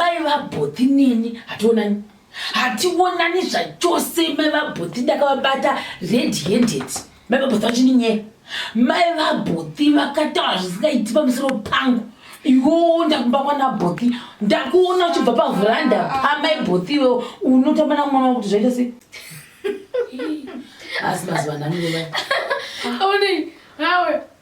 Mai vabhothi neni hationani. Hationani zvachose mai vabhothi ndakavabata red handed. Mai vabhothi vachininyeya. Mai vabhothi vakataura zvisingaiti pamusoro pangu. Yoo ndakumba kwana bhothi. Ndakuona uchibva pavhuranda pamai bhothi iwewo unotamba na mwana wakuti zvaita sei? Asi mazuva nani wewe. Aone nawe.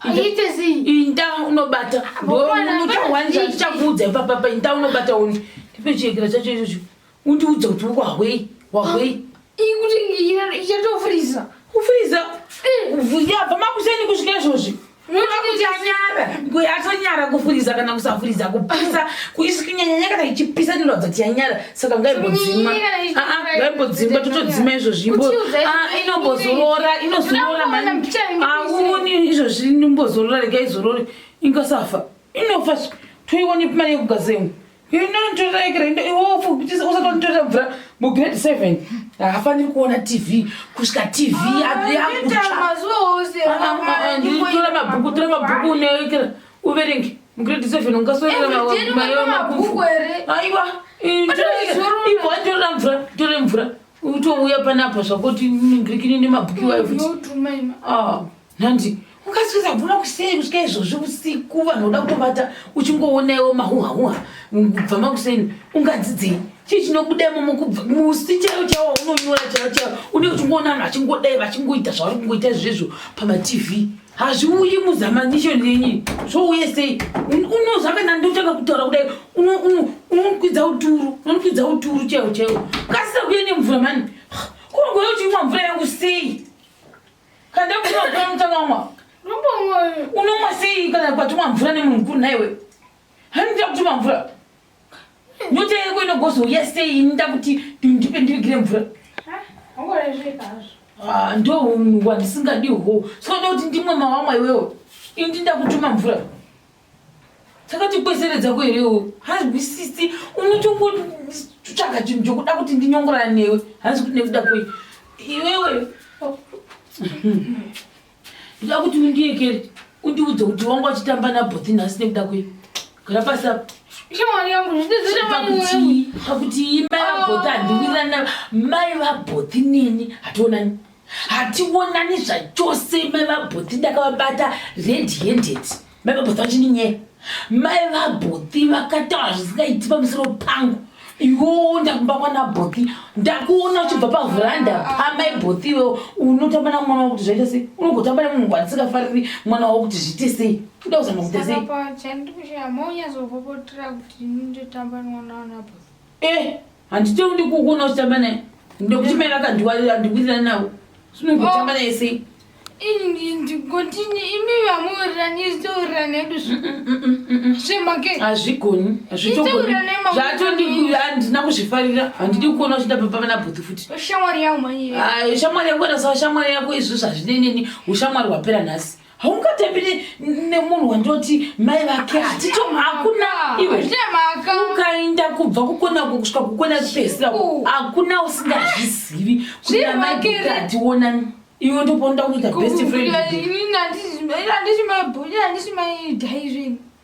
Aite sei? Inda unobata. Ndounotawanza ndichakuudza ipapa pa inda unobata undi. Ndipe chiyekera chacho ichocho. Undiudza kuti wahwei? Wahwei? Ikuti ichatofriza. Kufriza? Eh. Vuya pa makuseni kusvika izvozvi. Atonyara kufuriza kana kusafuriza kupisa kuisikinyanyanya kana ichipisa inoratidza kuti yanyara saka ngaimbodzima ngaimbodzima totodzima izvozvi inombozorora inozorora auni izvozvi inombozorora rega izorore ingasafa inofa toiwani mari yekugazemu inonotoraekereusatonitorera mvura mugrade seven haafaniri kuona tv kusvika tv yakutsva tora mabhuku tora mabhuku unoekera uverenge Mgrade 7 ungaswera na mayo makufu. Aiwa. Ivo atora mvura, tore mvura. Utouya panapa zvakoti ngrikini nemabhuki wayo futi. Ah, nhanzi. Ukaswera mvura kusei kusvika izvozvi usiku vanhu voda kutobata uchingoona iwo mahuha huha kubva makuseni ungadzidzei chii chinobuda imomo kubva musi chaiwo chaiwo unonyora chaiwo chaiwo une uchingoona vanhu vachingodai vachingoita zvavari kungoita izvezvo pamatv hazviuyi muzamanishoni yenyi zvouye sei unoziva kana ndotanga kutaura kudai unokwidza uturu unokwidza uturu chaiwo chaiwo kasira kuye nemvura mani kungoyo uchimwa mvura yangu sei kana ndakuchimwa mvura yangu takamwa unomwa sei kana kwatumwa mvura nemunhu mukuru nhaiwe handiita kutumwa mvura Nyota yako inogozouya sei inoda kuti ndipe ndivigire mvura? Ah, ndo unhu wandisingadi hwo soda kuti ndimwe mawamwa iwewe ini ndinda kutuma mvura takatikoseredza kuherewo hazwisisi unotongotsvaga chinhu chokuda kuti ndinyongorana newe hanzi kuti nekuda kwei iwewe Ndoda kuti undiekere undiudze kuti wanga uchitamba nabhothi nhasi nekuda kwei. Gara pasi apa. Shamwari yangu ndizvizere mwana wangu. Pakuti pakuti imba yabhothi handiwirirani nayo. Mai vabhothi neni hationani. Hationani zvachose mai vabhothi ndakavabata red handed. Mai vabhoti vachindinyera. Mai vabhoti vakataura zvisingaiti pamusoro pangu. Iwewo ndakumba kwana bhoti. Ndakuona uchibva pavhuranda pamai bhoti iwewo unotamba na mwana wako kuti zvaita sei? Unogotamba nemunhu wandisikafariri mwana wako kuti zviite sei? Unoda kuzama kuita sei? Saka chandikushaya monyazobobotira kuti ndotamba mwana wana bhoti. Eh, handiti undi kukuona uchitamba naye ndokuti mai vakandiwarira ndikuwirirani navo sinogotamba naye sei ndikotini imi vamuwirirani isitaurirani edu zvemake mm, mm, mm, hazvigoni hazvitogonihandina kuzvifarira handidi kukuona uchitamba pavana bhuti futi shamwari yako manyishamwari yako ena sa shamwari yako izvi zvazvineneni ushamwari hwapera nhasi haungatambi nemunhu wandoti mai vake hatito hakuna iwe ukaenda kubva kukona uko kusvika kukona kupesira hakuna usingazvizivi kuti amai kugati wonani iwe ndoponoda kuita best friend handisi mai bhoni handisi mai dhaizvini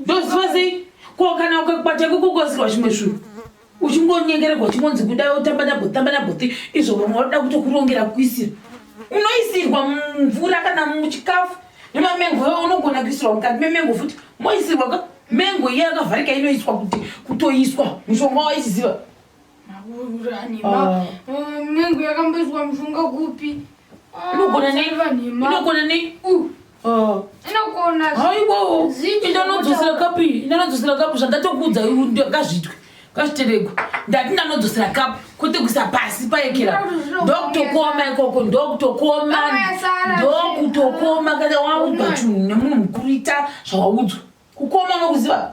ndoziva sei ko kana ukakwata kukokosirwa zvimwe zvinhu uchingonyengeregwa uchingonzi kudai otamba nabhoti tamba nabhoti izvo vamwe vanoda kutokurongera kuisira unoisirwa mvura kana muchikafu nemamengo yo unogona kuisirwa mukati memengo futi moisirwa ka mengo iye yakavharika inoiswa kuti kutoiswa mushonga waichiziva ah. mengo yakamboiswa mushonga kupi ah, inogona nei inogona nei Ah. aiwawo indanodzosera kapu iyi indanodzosera kapu zvandatokuudza ngazvitwe ngazviteregwe ndati ndanodzosera kapu kwete kuisa pasi paekera ndokutokoma ikoko ndokutokoma ndokutokoma kana waudzwa chinhu nemunhu mukuru ita zvawaudzwa kukoma unokuziva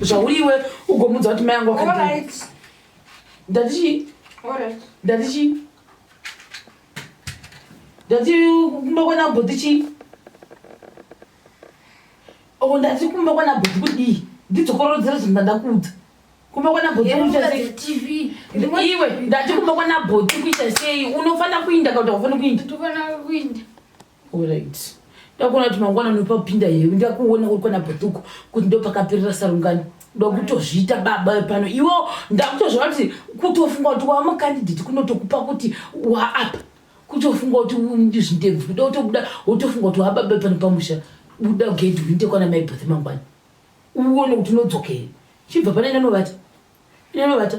zvauiwe ugomudza kuti mai yangu akadii ndati chii ndati chii ndati kumba kwana bhoti chii o ndati kumba kwana bhoti kudii ndidzokorodzere zvinhu ndandakuudza kumba kwana bhoti iwe ndati kumba kwana bhoti kuita sei unofanira kuinda kauta ufani kuinda Alright. Ndakuona kuti mangwana unopa kupinda here ndakuona uri kwana bhutuku kuti ndopakaperera sarungano ndokutozviita baba pano iwo ndakutozviona kuti kutofunga kuti wava makandidheti kunotokupa kuti waapa kutofunga kuti ndizvindebvu kuda kutobuda wotofunga kuti wava baba pano pamusha buda gedhi uite kwana mai bhothe mangwana uone kuti unodzokere chibva pane inanovata inanovata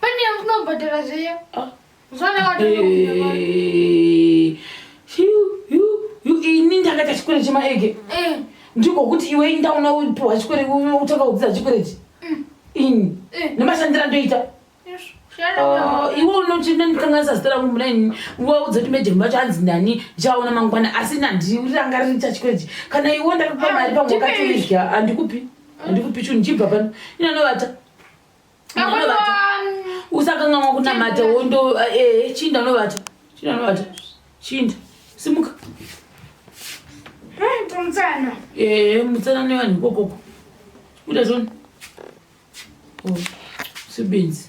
Pane unobhadhara zviya. Ah. Zvona wadonobhadhara. Eh, ini ndakaita chikwere chemaege eh. ndiko kuti iwe indaona upiwa chikwere utanga kudzidza chikwerechi mm. ini eh. nemashandira ndoita ah, iwe unotindikanganisa zita rangu muna ini waudza kuti mejemu vacho hanzi ndani ndichaona mangwana asi nandirangariri chachikwerechi kana iwe ndakupa ah, mari pamwe wakatoidya handikupi handikupi chunhu chibva pano inanovata usakangamwa kunamata wondo eh, eh, chinda unovata chinda unovata chinda simuka mutsana eh, mutsana nevanhu ikokoko uda zvoni oh, sibenzi